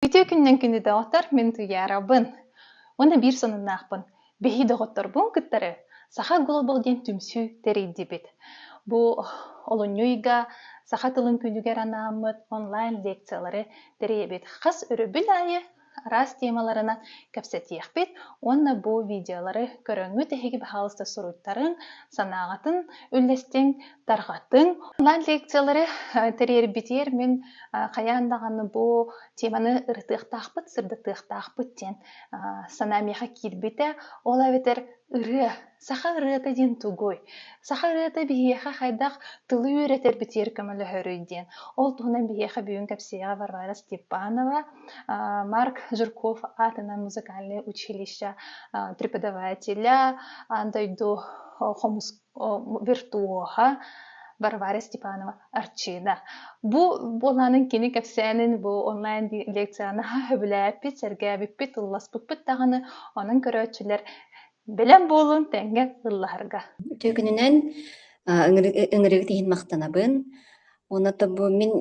Үтүө күннэн күндү доҕоттор, мин Туйаарабын. Уонна биир сонуннаахпын. Биһи доҕотторбун кыттары Саха Глобал диэн түмсүү тэрийдибит. Бу олунньу ыйга саха тылын күнүгэр анааммыт онлайн лекциялары тэрийэбит. Хас өрөбүл аайы араас темаларынан кэпсэтиэхпит уонна бу видеолары көрөҥҥүт эһиги баһаалыста суруйтарыҥ, санааҕытын үллэстиҥ, тарҕатыҥ. Онлайн лекциялары тэрийэрбитигэр мин хайаан даҕаны бу теманы ырытыахтаахпыт, сырдатыахтаахпыт диэн санаа миэхэ киирбитэ. Ол эбэтэр ырыа. Саха ырыата диэн тугуй? Саха ырыата биһиэхэ хайдах тылы үөрэтэрбитигэр көмөлөһөрүй диэн. Ол туһунан биһиэхэ бүгүн кэпсиэҕэ Варвара Степанова Марк Жирков аатынан музыкальнай училище преподавателя дойду хомус виртуоһа Варвара Степанова Арчина. Бу буолаанын кини кэпсээнин бу онлайн лекцияны сөбүлээппит, сэргээбиппит, ылласпыппыт даҕаны, онон көрөөччүлэр бэлэм буолун тэҥҥэ ыллаһарга. Күнүнэн ыҥырыгыт иһин махтанабын. Уонна то бу мин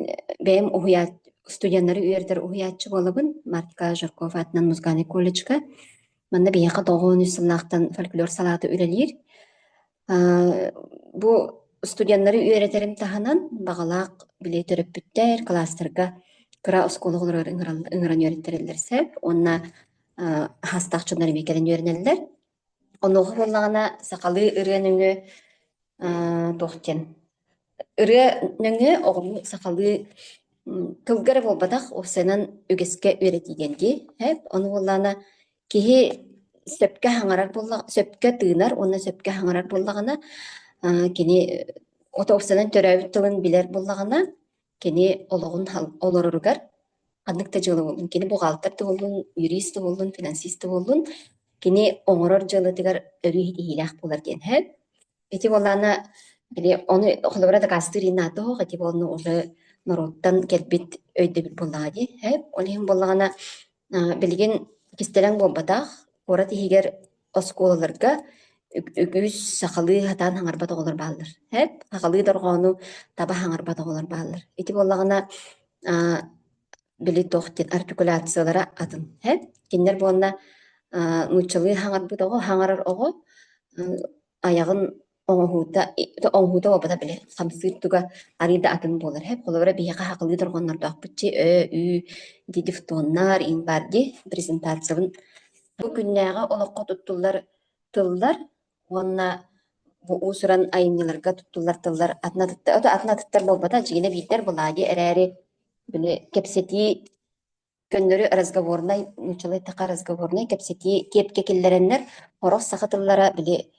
бэйэм уһуйаат студеннары үөрэтэр уһуйааччы буолабын. Марка Жаркова аатынан музыкальнай колледжка. Манна биһиэхэ тоҕуон үс сыллаахтан фольклор салаата үлэлиир. Аа, бу студеннары үөрэтэрим таһынан баҕалаах били төрөппүттэр кылаастарга кыра оскуола олорор ыҥыран үөрэтэрэллэр сөп. Уонна аа, хаастаах дьоннор эмиэ кэлэн үөрэнэллэр. Онуоха буоллаҕына сахалыы ырыа нөҥүө аа туох диэн ырыа нөҥүө оҕолуу сахалыы тылга эрэ буолбатах уопсайынан үгэскэ үөрэтии диэн дии эп ону буоллаҕына киһи сөпкө хаҥарар буолла сөпкө тыынар уонна сөпкө хаҥарар буоллаҕына аа кини от уопсайынан төрөөбүт тылын билэр буоллаҕына Кини олоҕун олороругар ханнык да дьыалаҥҥын, кини буҕаалтар туһуллун, юрист туһуллун, финансист туһуллун, кини оҥорор дьыалатыгар өрүү ситиһиилээх буолар диэн һэ. Ити буоллаана били ону холобура дакаастыыр инаатоох ити буолла уже норуоттан кэлбит өйдөбүл буоллаҕа дии һэ. Ол иһин буоллаҕына А, билигин кистэлэҥ буолбатах, куорат иһигэр оскуолаларга үг- үгүс сахалыы сатаан хаҥарбат оҕолор бааллар. Эп, сахалыы дорҕоону таба хаҥарбат оҕолор бааллар. Ити буоллаҕына, а, били туох диэн артикуляциялара атын. Эп, кинилэр буолла а, нууччалыы хаҥарбыт оҕо, хаҥарар оҕо ы, айаҕын оҥоһуута, оҥоһуута буолбата били хамсыыр туга арыый да атын буолар эһэ. Холобура биһиэхэ хахылыы дорҕоннордоохпутчу Ö, Ü дии дифтоннар, ин бар дии презентациябын бу күннээҕи олоххо туттуллар тыллар уонна бу уусуран айымньыларга туттуллар тыллар атына атын атыттар буолбата дьиҥинэ биирдэр былаадьы эрээри били кэпсэтии Көннөрү разговорнай, нууччалыы таха разговорнай кэпсэтии киэпкэ киллэрэннэр, хорох саха тыллара били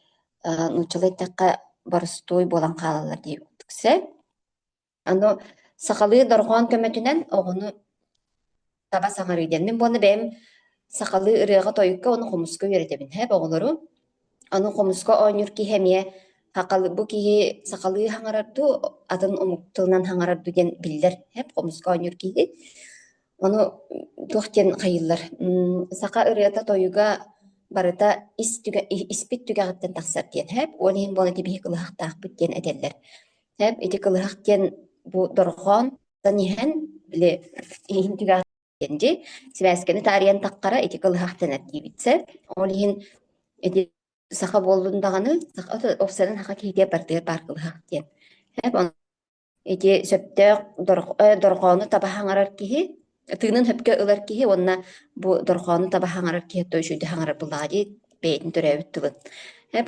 э, нууччалыы тахха борустуой буолан хаалаллар дии купсэ. Аны сахалыы дорҕоон көмөтүнэн оҕону таба саҥарыыдэнмин буонна бэйэм сахалыы ырыаҕа-тойукка уонна хомуска үөрэтэбин. Һэп оҕолору. Аны хомуска оонньуур киһи эмиэ сахал- бу киһи сахалыы хаҥарар дуу, атын омук тылынан хаҥарар дуу диэн биллэр эп хомуска оонньуур киһи. Ону туох диэн хайыыллар? М, саха ырыата, тойуга барыта ис түгэ ис- испит түгэҕиттэн тахсар диэн эп. Уон иһин буолан ити биһи кылыһахтаахпыт диэн этэллэр. Эп ити кылыһах диэн бу дорҕоон тан иһэн, били иһин түгэҕиттэн диэн дии сибээскэни таарыйан таххара ити кылыһах тэнэр диибитсэ ол иһин ити саха буоллун даҕаны саха офсайдан саха киһитэ партия паар кылыһах диэн ити сөптөөх дорҕоону таба хаҥарар киһи тыынын сөпкө ылар киһи уонна бу дорҕоону таба хаҥарар киһи то үчүгэй хаҥарар былаҕа дии бэйэтин төрөөбүт тылын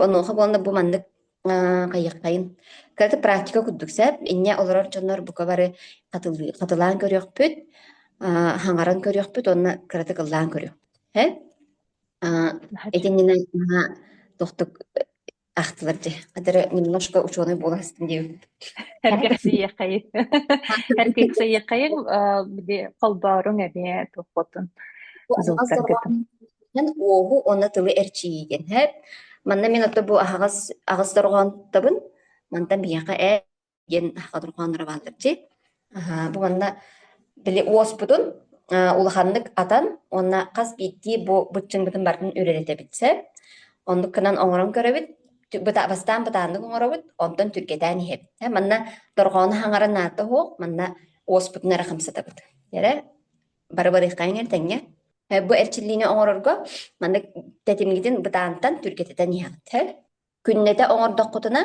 онуоха буолла бу маннык Э, Хайыххайын. Кырата практика курдук сөп. Инне олорор дьоннор бука бары хатылыы- хатылаан көрүөхпүт, а, хаҥаран көрүөхпүт уонна кыратык ыллаан көрүөхпүт. Һэ? А, итиннинэ мана тохтук ахтылар дьэ. Адары немножко ученый буоласытын диэбиппит. Эргэрсийиэххэйин. Эргэрсийиэххэйин, э, били холбооруҥ эмиэ туохпутун. Суолтаргытын. Эн уоһу уонна тылы эрчийиигин хэп. Манна мин отто бу аһаҕас аҕыс дорҕоонтабын. Мантан биһиэхэ ээ диэн аһаҕа дорҕооннора баалларчи. Аһаа, бу манна били уоспутун улаханнык атан уонна хас биирдии бу быччымбытын бартын үрэлэтэбитсэ. Оннук кынан оҥорон көрөбүт. Бастаан бытааннык оҥоробут, онтон түргэтээн иһэбит. Манна дорҕоону хаҥаран наата оһох, манна уоспутун эрэ хамсатабыт. Эрэ бары барыаххаан иҥэр тэҥҥэ. Э, Бу эрчиллиини оҥорорго маннык тэтимгитин бытаантан түргэтэтэн иһэҕит. Күннэтэ оҥордоххутуна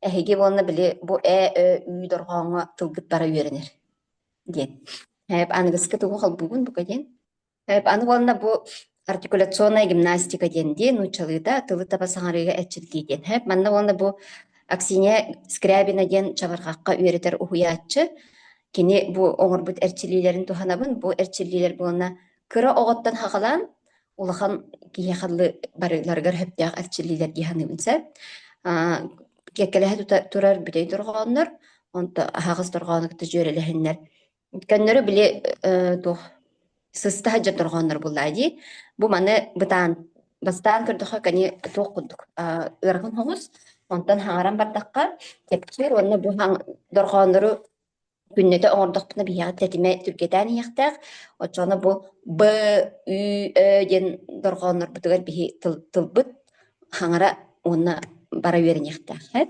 эһиги уонна били бу Э, Ö, Ү дорҕооҥҥо тылгыт бара үөрэнэр диэн. Э, Аныгыскы тугу холбуугун бука диэн. Э, Аны уонна бу артикуляционная гимнастика диэн дии нууччалыыта тылы таба саҥарыыга эрчиллии диэн. Э, Манна уонна бу Аксинья Скрябина диэн чабырҕахха үөрэтэр уһуйааччы Кини бу оҥорбут эрчиллиилэрин туһанабын. Бу эрчиллиилэр буолана кыра оҕоттон хахалаан улахан киһи-халлы барыыларыгар сөптөөх эрчиллиилэр дии саныыбын сөп. Аа, киэккэлэһэ тута турар бүтэй дорҕооннор, онто аһаҕас дорҕоону кытта дьүөрэлэһиннэр. Көннөрү били, э, туох сыстаһа дьэ дорҕооннор буллаа дии бу маны бытаан бастаан көрдөххө кини туох курдук ыарахан хоҥус онтон хаҥаран бардахха тэпсиир уонна бу дорҕооннору күннэтэ оҥордохпуна биһиэхэ тэтимэ түргэтээн иһиэхтээх оччоҕуна бу б ü ö диэн дорҕооннорбутугар биһи тылбыт хаҥара уонна бара үөрэниэхтээххит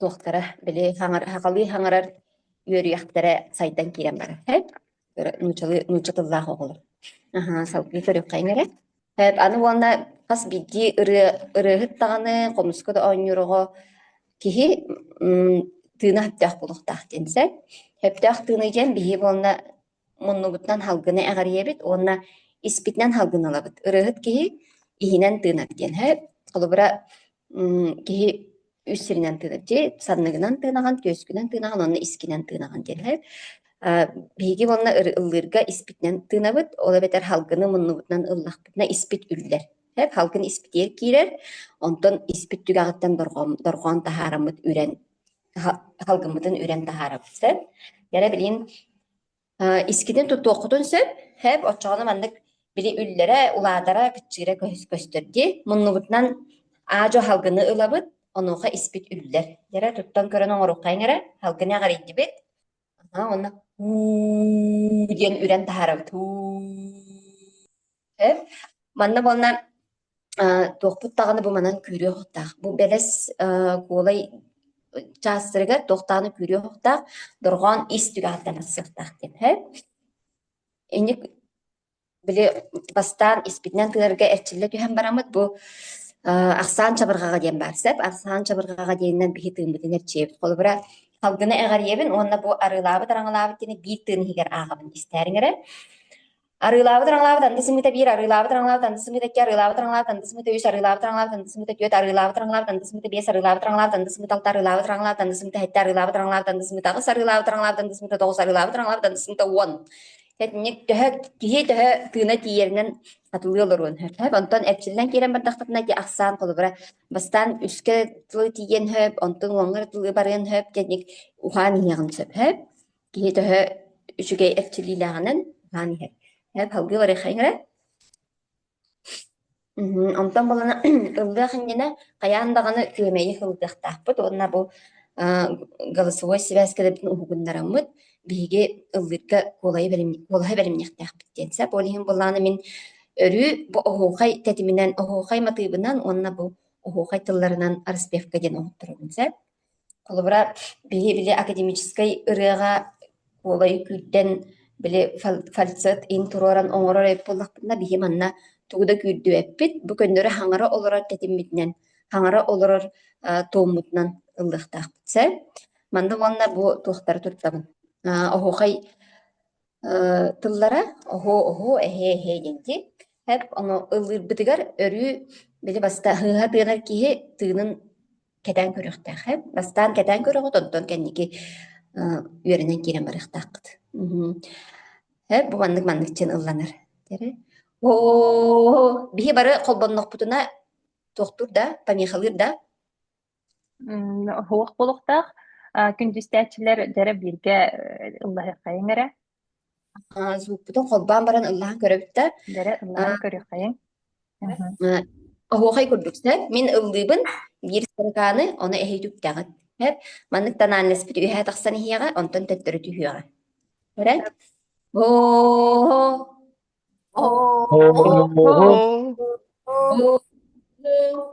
туохтара били хаҥар хахалыы хаҥарар үөрүйэхтэрэ сайдан киирэн барар. Эт нуучалыы нуучча тыллаах оҕолор. Аха, салгыы көрүөххэйиҥ эрэ. Эт аны уонна хас биирдии ырыа ырыаһыт даҕаны, хомуска да оонньууроҕо киһи тыына сөптөөх булуохтаах диэн сэ. Сөптөөх тыыны диэн биһи буолна муннубутунан салгыны эҕирийэбит уонна испитинэн салгын ылабыт. Ырыаһыт киһи иһинэн тыынар диэн. Холобура киһи үс сиринэн тыынар дии, санныгынан тыынаҕын, түөскүнэн тыынаҕын, онно искинэн тыынаҕын диэн. Биһиги уонна ыллыырга испитинэн тыынабыт, ол эбэтэр салгыны муннубутунан ыллахпытына испит үллэр. Салгын испитигэр киирэр, онтон испит түгэҕиттэн дорҕоон таһаараммыт үрэн салгыммытын үрэн таһаарабыт сөп. Яра билин искитин туттуоххутун сөп. Хэп оччоҕуна маннык били үллэрэ, улаатара, кыччыыра көстөрдү. Муннубутунан аажо халгыны ылабыт, онуоха испит үллэр. Яра туттан көрөн оҥорукхайың эрэ, халгыны аҕарыйдыбыт. Онна уу диэн үрэн таһаарабыт. Эн манна буолла а, туохпут даҕаны бу манан күүрүө охтаах. Бу бэлэс а, куолай чаастарыгар тохтааны күүрүө охтаах, дорҕоон ис түгэхтэнэр сыахтаах диэн. Һэ? Инник били бастаан испитинэн тыарга эрчиллэ түһэн бараммыт бу э, ахсаан чабырҕаҕа диэн баар сеп ахсаан чабырҕаҕа диэнинэн биһи тыыммытын эрчийэбит холобура салгыны эҕэрийэбин уонна бу арыылаабыт араҥалаабыт диэни биир тыын иһигэр ааҕабын истээриҥ эрэ Арыылаабыт араҥалаабыт андыс сымыыта биир, арыылаабыт араҥалаабыт андыс сымыыта икки, арыылаабыт араҥалаабыт андыс сымыыта үс, арыылаабыт араҥалаабыт андыс сымыыта түөрт, арыылаабыт араҥалаабыт андыс сымыыта биэс, арыылаабыт араҥалаабыт андыс сымыыта алта, арыылаабыт араҥалаабыт андыс сымыыта сэттэ, арыылаабыт араҥалаабыт андыс сымыыта аҕыс, арыылаабыт араҥалаабыт андыс сымыыта тоҕус, арыылаабыт араҥалаабыт андыс сымыыта уон. Итинник төһө киһи төһө тыына тиийэринэн атылыы олоруон сөп. Онтон эрчиллэн киирэн бардахтатына ити ахсаан холобура бастаан үскэ тылы тиийэн сөп, онтон уоҥҥа тылы барыан сөп, кэнник ухаан иһиэҕин сөп. Киһи төһө үчүгэй эрчиллиилээҕинэн аһаан иһэр. Һэ, салгыы барыаххайыҥ эрэ. Мгм. Онтон буолана ыллыах иннинэ хайаан даҕаны күөмэйи ыллыахтаахпыт уонна бу э, голосовой сибээс кэлэбитин уһугуннараммыт. Биһиги ыллыырга куолайы бэлимни- куолаһы бэлимниэхтээхпит диэн. Сэ ол иһин былаана мин өрүү бу оһуохай тэтиминэн, оһуохай матыыбынан уонна бу оһуохай тылларынан распевка диэн оһотторобун. Сэ Холобура, биһи били академическай ырыаҕа куолай күүрдэн, били фальцет интуруоран оҥорор эбит буоллахпытына, биһи манна тугу да күүрдүбэппит. Бу көннөрү хаҥара олорор тэтиммитинэн, хаҥара олорор туоммутунан ыллыахтаахпыт. Сөп? Манна уонна бу туохтары туттабын? Оһуохай Э, тыллара оһуо оһуо эһээ эһээ диэнки эп ону ыллыырбытыгар өрүү били баста ыһа тыанар киһи тыынын кэтээн көрүөхтээх эп бастаан кэтээн көрөҕүт онтон кэнники э, үөрэнэн киирэн барыахтааххыт мхм эп бу маннык манныкчын ылланар дэрэ оо биһи бары холбоннохпутуна туохтур да помехалыыр да М, Оһуох булуктаах а, күндүстээччилэр дэрэ бииргэ э, ыллаһыаххайыҥ эрэ. А, суппутун холбоон баран ыллаһан көрөбүттэр. Дэрэ ыллаһан көрүөххэйиҥ. Мгм. А, оһуохай курдук сөп. Мин ыллыыбын биир сырыкааны, ону эһи түптэҕит. Сөп. Маннык тональностпыт үөһэ тахсан иһиэҕэ, онтон төттөрү түһүөҕэ. Көрөн? Оо, оо, О, о, о,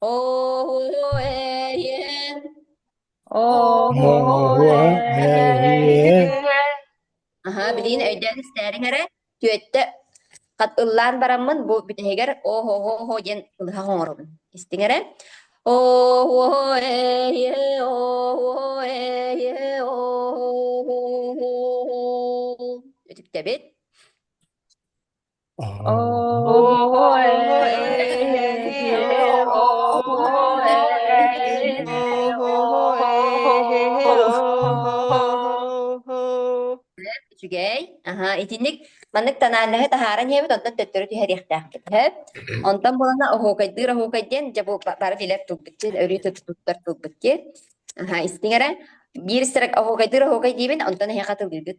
Оһо эйе, оһо эйе. Аһа, билигин өйдөөн истээриҥ эрэ, түөттэ хат ыллаан бараммын, бу бүтэһигэр оһо-оһо диэн ылыһах оҥоробун. Истиҥ эрэ. Оһо эйе, оһо эйе, оһо. Үтүктэбит. Үчүгэй. Аһа, итинник маннык тональноһы таһааран иһэбит, онтон төттөрү түһэриэхтээхпит. Сөп? Онтон булана оһуокайдыыр оһуокай диэн, дьэ бу бары билэр тылбыт диэн, өрүү туттар тылбыт диэн. Аһа, истиҥ эрэ. Биир строк оһуокайдыыр оһуокай диибин, онтон эһиэхэ тылыыгыт.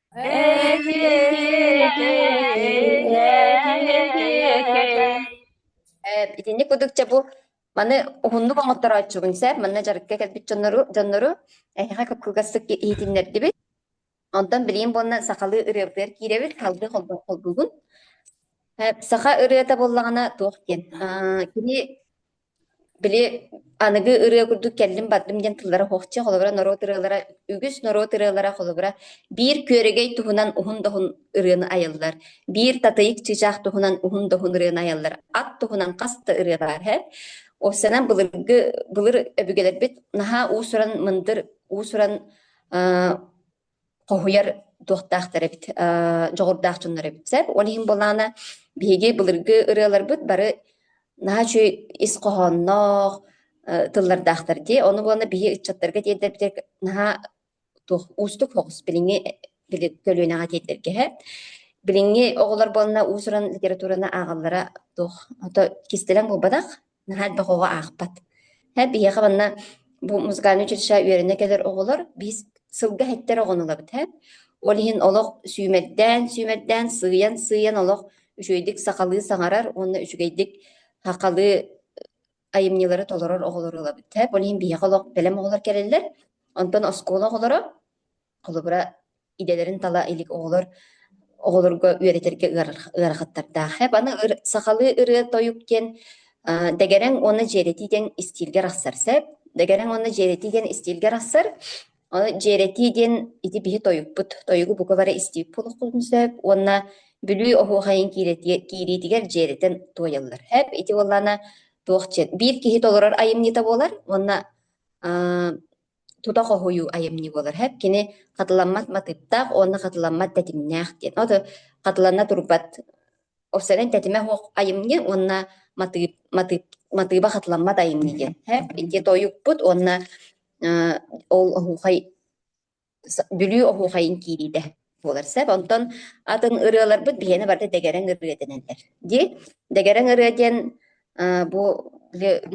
Итинник кудукча бу маны уһуннук оҥотторооччубун сэр манна дьарыкка кэлбит дьоннору дьоннору эһиэхэ куккугастык иһитиннэрдибит онтон билиим буонна сахалыы ырыабытыгар киирэбит халгы холбугун саха ырыата буоллаҕына туох диэн кини Били аныгы ырыа курдук кэллим-бардым диэн тыллара оһохче, холобура норуот ырыалара үгүс норуот ырыалара холобура биир күөрэгэй туһунан уһун доһун ырыаны айаллар, биир татыйык чыычаах туһунан уһун доһун ырыаны айаллар, ат туһунан хас да ырыа баар иһэ. Ол сэнэн былыргы былыр өбүгэлэрбит наһаа уус-уран мындыр, уус-уран хоһуйар туохтаахтар эбит, э, дьоҕурдаах дьоннор эбит сэр. Ол иһин былаана биһиги былыргы ырыаларбыт бары наһаа үчүгэй ис хоһоонноох э, тыллардаахтар дии. Ону буолана биһи ыччаттарга тиэрдэрбитэ наһаа туох уустук хоҕус билиҥҥи били көлүөнэҕэ тиэрдэргэһэ. Билиҥҥи оҕолор буолана уус-уран литератураны ааҕаллара туох ото кистэлэҥ булбатах наһаа элбэх оҕо аахпат. Һэ биһиэхэ манна бу музыкальнай училищеҕа үөрэнэ кэлэр оҕолор биис сылга иһиттэр оҕону ылабыт һэ. Ол иһин олох сүүмэрдээн, сүүмэрдээн, сыыйан, сыыйан олох үчүгэйдик сахалыы саҥарар уонна үчүгэйдик сахалыы айымньылары толорор оҕолору ылабыт һэ. Ол иһин биһиэхэ олох бэлэм оҕолор кэлэллэр. Онтон оскуола оҕолоро Холобура, идэлэрин тала илик оҕолор оҕолорго үөрэтэргэ ыарахаттардаах. Хэп аны сахалыы ырыа-тойук диэн дэгэрэҥ уонна дьиэрэтии диэн истиилгэ арахсар сеп. Дэгэрэҥ уонна дьиэрэтии диэн истиилгэ арахсар. Дьиэрэтии диэн ити биһи тойукпут, тойугу бука бары истиип булуккутун сөп уонна Бүлүү оһуохайын киириитигэр дьиэрэтэн туойаллар. Хэп ити буоллана туох дьиэ биир киһи толорор айымньыта буолар уонна тута хоһуйуу айымньы буолар. һэп кини хатыламмат матыыптаах уонна хатыламмат тэтимнээх диэн. Ото хатыланна турбат офсерен тэтимэ оһох айымньы уонна матыып матыып матыыба хатыламмат айымньы диэн. һэп ити тойукпут уонна э ол оһуохай Бүлүү оһуохайын киириитэ. буолар сөп. Онтон атын ырыаларбыт биһиэнэ барыта дэгэрэҥ ырыа дэнэллэр. Дии. Дэгэрэҥ ырыа диэн а, бу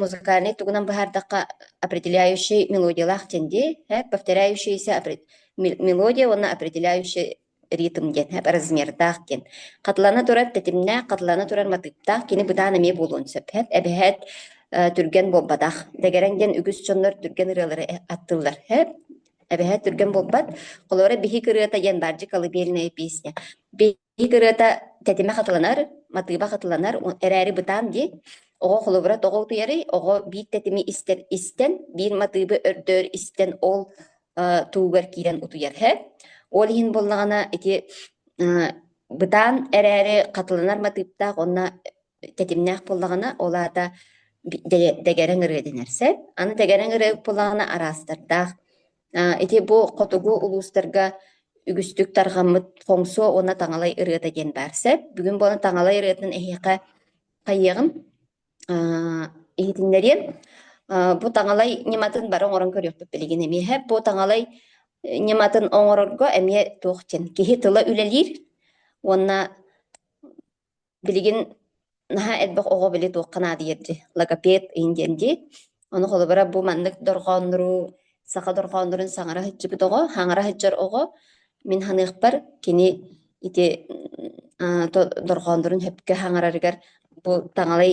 музыкальнай тугунан быһаардахха определяющий мелодиялаах диэн дии. Һэ, повторяющийся опре- мел- мелодия уонна определяющий ритм диэн һэ, размердаах диэн. Хатылана турар тэтимнээх, хатылана турар матыыптаах, кини бытаан эмиэ буолуон сөп. Һэ, эбэһэт э, түргэн буолбатах. Дэгэрэҥ диэн үгүс дьоннор түргэн ырыалары э- аттыллар. Һэ, Эбэһээ түргэн буолбат. Холуора биһик ырыата диэн баардьы колыбельная песня. Биһик ырыата тэтимэ хатыланар, матыыба хатыланар, эрээри бытаан дии. Оҕо холобура тоҕо утуйары, оҕо биир тэтими истэр истэн, биир матыыбы өрдөөр истэн ол э, туугар киирэн утуйар һэ. Ол иһин буоллаҕына ити бытаан эрээри хатыланар матыыптаах онно тэтимнээх буоллаҕына, ол аата дэгэрэҥ ырыа дэнэр сөп. Аны дэгэрэҥ ырыа буоллаҕына араастардаах. Ити бу хотугу улуустарга үгүстүк тарҕаммыт хоҥсуо уонна таҥалай ырыата диэн баар сөп. Бүгүн буолан таҥалай ырыатын эһиэхэ хайыаҕым, иһитиннэриэм. Бу таҥалай ньыматын бары оҥорон көрүөхпүт билигин эмиэхэ. Бу таҥалай ньыматын оҥорорго эмиэ туох диэн киһи тыла үлэлиир уонна Билигин наһаа элбэх оҕо били туохха наадыйар дии, логопед иһин диэн дии. Ону холобура бу маннык дорҕооннору, саха дорҕооннорун саҥара сылдьыбыт оҕо, хаҥара сылдьар оҕо, мин саныахпар кини ити дорҕооннорун сөпкө хаҥарарыгар бу таҥалай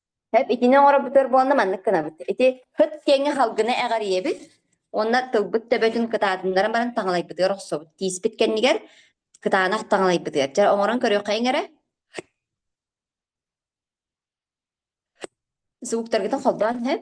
Сөп итини оҥорбутугар буолла маннык гынабыт. Ити ыт киэҥҥэ халгына эҕэрийэбит уонна тылбыт төбөтүн кытаатыннаран баран таҥалайбытыгар охсобут. Тииспит кэннигэр кытаанах таҥалайбытыгар. Дьэ оҥорон көрүөххэйиҥ эрэ. Сугуктаргытын холбоон сөп.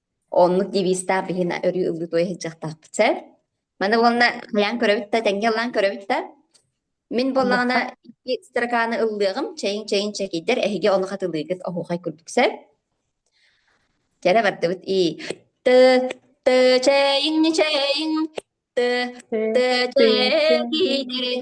Оннук девизтаах биһин өрүү ылыы туой сылдьыахтаахпыт сэр. Маны уонна хайаан көрөбүт да, тэҥҥэ ылаан көрөбүт да. Мин буоллаҕына Баттах икки строканы ыллыаҕым, чэйин чэйин чэкийдэр, эһиги ону хатылыыгыт, оһуохай курдук сэр. Кэрэ бардыбыт ии. Тө, тө чэйиҥ чэйиҥ, тө, тө чэкийдэрин.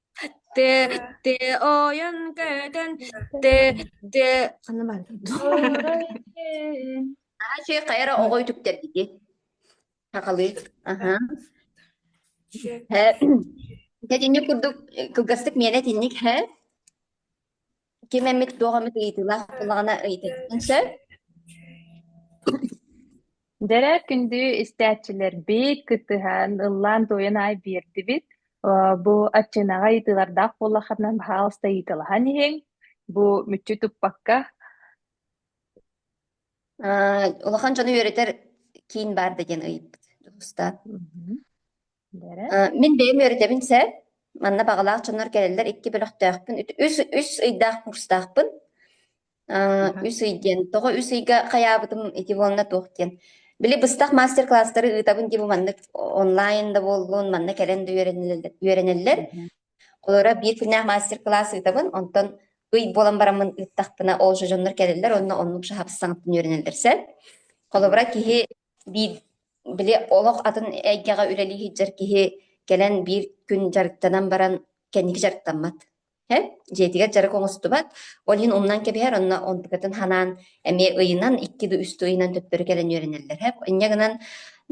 Тэ, тэ, ойон көтөн, тэ, тэ, ханна баар дуу? Оройден. Аачы хайара оҕо үтүктэрдики хахалыы. Аха. Һэ, итинник курдук кылгастык миэнэ итинник һэ. Ким эмит туох эмит ыйытыылаах буоллаҕына ыйытыаххын сөп. Дэрэ күндү истээччилэрбит кыттыһан ыллаан-туойан аай биэрдибит. Бу отчинаҕа ыйытыылардаах буоллаххытына баһаалыста ыйыталаһан иһиҥ. Бу мүччү туппакка. Улахан дьону үөрэтэр киин баар да диэн ыйыппыт. Уста. Бэрэ. Мин бэйэм үөрэтэбин сэ. Манна баҕалаах дьоннор кэлэллэр икки бөлөхтөөхпүн. Үс, үс ыйдаах курстаахпын. Ааа, Аха. үс ый диэн. Тоҕо үс ыйга хайаабытым ити буолла туох диэн. Били быстах мастер-класстары ыытабын дии бу маннык онлайн да буоллун, манна кэлэн да үөрэнэллэр. үөрэнэллэр. Мгм. Олору биир күннээх мастер-класс ыытабын. Онтон ый буолан бараммын ыыттахпына ол же дьоннор кэлэллэр, онно оннук же хабыстаҥыттан үөрэнэллэр сэ. Холобура, киһи Биир били олох атын эйгэҕэ үлэлии сылдьар киһи кэлэн биир күн дьарыктанан баран кэнники дьарыктаммат. Һэ? Дьиэтигэр дьарык оҥостубат. Ол иһин умнан кэбиһэр, онно онтукатын санаан эмиэ ыйынан, икки да үс да ыйынан төттөрү кэлэн үөрэнэллэр. Һэ? Инньэ гынан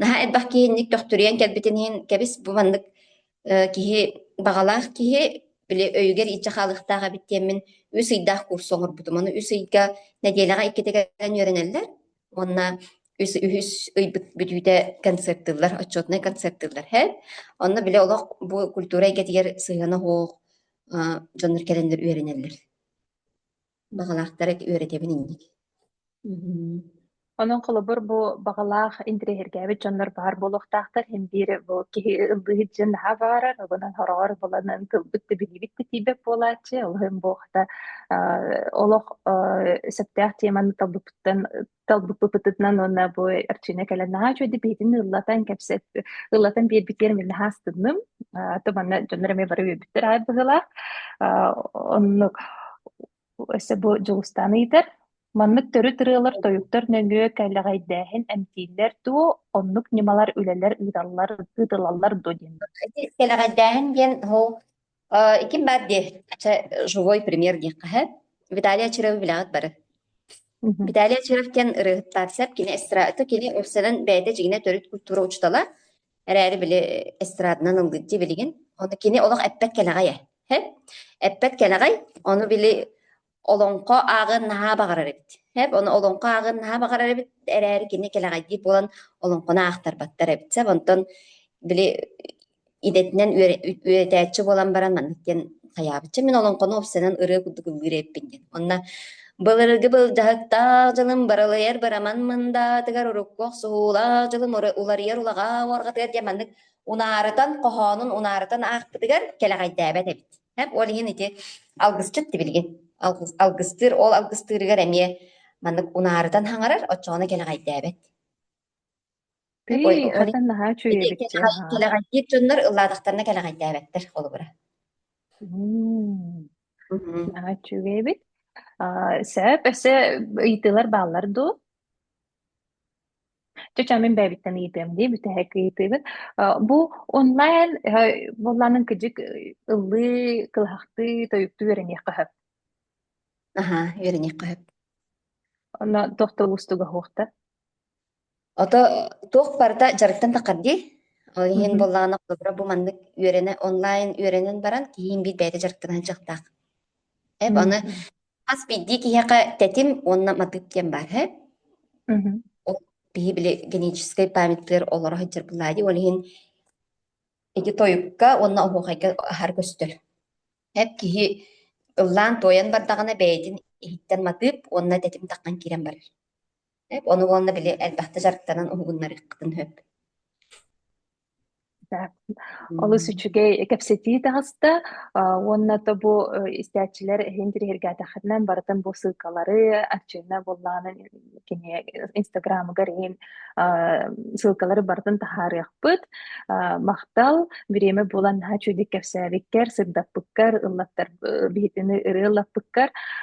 наһаа элбэх киһинник төхтүрүйэн кэлбитин иһин кэбис бу маннык э, киһи баҕалаах киһи били өйүгэр ииччэ хаалыахтаах эбит диэммин үс ыйдаах курс оҥорбутум. Ону үс ыйга нэдиэлэҕэ иккитэ кэлэн үөрэнэллэр. Уонна үс үһүс ыйбыт бүтүүтэ концертыыллар, отчетнай концертыыллар һэт. Онно били олох бу культура эйгэтигэр сыһыана оһох дьоннор кэлэннэр үөрэнэллэр. Баҕалаахтара үөрэтэбин инник. Онон холобур бу баҕалаах интириэһиргээбит дьоннор баар буолуохтаахтар. Һин биир бу киһи ыллыыт дьон наһаа баарар, обунан хороҕор буланан тылбыт да билиибит да тиийбэт буолааччы. Олуһун бу хата олох сөптөөх теманы талбыппыт талбыппытынан уонна бу Арчина кэлэн наһаа үчүгэй биһитин ыллатан кэпсэт ыллатан биэрбитигэр мин наһаа астынным то манна дьоннор эмиэ бары үөрбүттэр аай быһыылаах оннук өссө бу Дьулустаан ыйытар маннык төрүт ырыалар тойуктар нөҥүө кэлэҕэйдээһин эмтииллэр дуу оннук ньымалар үлэлэр ыыталлар ыытылаллар дуу диэн кэлэҕэйдээһин диэн Э, Ким баар дии, чэ, живой премьер диэххэ һэт. Виталий Очарову билэҕит бары. Мгм. Виталий Очаров киэн ырыһыттар сеп, кини эстрадата, кини өссөнөн бэйэтэ дьигинэ төрүт культура учутала, эрээри били эстраданан ылгыт дии билигин. Ону кини олох эппэт кэлэҕэй э. Һэт? Эппэт кэлэҕэй, ону били олоҥхо ааҕыан наһаа баҕарар эбит. Хэп, ону олоҥхо ааҕыан наһаа баҕарар эбит, эрээри кини кэлэҕэйдиир буолан олоҥхону аахтарбаттар эбит. Сeb онтон били идэтинэн үөрэтээччи буолан баран маннык диэн хайаабычча мин олоҥхону уопсанан ырыа курдук ыллыыр эппин диэн. Онно былыргы былдьаһыктаах дьылым барылыйар бараман мындаатыгар урукку охсуһуулаах дьылым уларыйар улаҕаа уорҕатыгар диэн маннык унаарытан хоһоонун унаарытан аахпытыгар кэлэҕэйдээбэт эбит. Ол иһин ити алгысчыт тибилигит. Алгыс, алгыстыыр, ол алгыстыырыгар эмиэ маннык унаарытан хаҥарар, оччоҕуна кэлэҕэйдээбэт. Тый, атын наһаа үчүгэйдик. Кэлэҕэйдиир дьоннор ыллаатахтарына кэлэҕэйдээбэттэр холобура. Наһаа үчүгэйбит. Сөп, өссө ыйытыылар бааллар дуу? Чочоо, мин бэйэбиттэн ыйытыам дии, бүтэһик ыйытыыбын. Э, Бу онлайн э, буоллаанын кыдьык ыллыы, кылаһахтыы, тойуктуу үөрэниэххэ сөп. Аһа, үөрэниэххэ сөп. Онно тохтол устуга уһуохта. Ото туох барыта дьарыктан таххар дии. Ол иһин Мгм. буоллаҕына холобура бу маннык үөрэнэ онлайн үөрэнэн баран киһиин биир бэйэтэ дьарыктанан дьахтаах. Эп аны Мгм. Хас биирдии киһиэхэ тэтим уонна матыып диэн баар үһү. Мгм. Ол киһи били генетическэй памяттыгар олоро сылдьар былаа дии. Ол иһин ити тойукка уонна оһуохайга аһар көстөр. Eb киһи ыллаан туойан бардаҕына бэйэтин иһиттэн матыып уонна тэтим таххан киирэн барар. Эп ону уонна били элбэхтэ дьарыктанан уһугуннарыаххытын сөп. Так. Олус үчүгэй кэпсэтии таҕыста уонна тобу истээччилэр иһин тириһиргээтэххитинэн барытын бу ссылкалары арчыына буллаанын кини инстаграмыгар иһин ссылкалары барытын таһаарыахпыт. Махтал, бириэмэ булан наһаа чудик кэпсээбиккэр, сырдаппыккар, ыллаттар биһитини ырыы ыллаппыккар.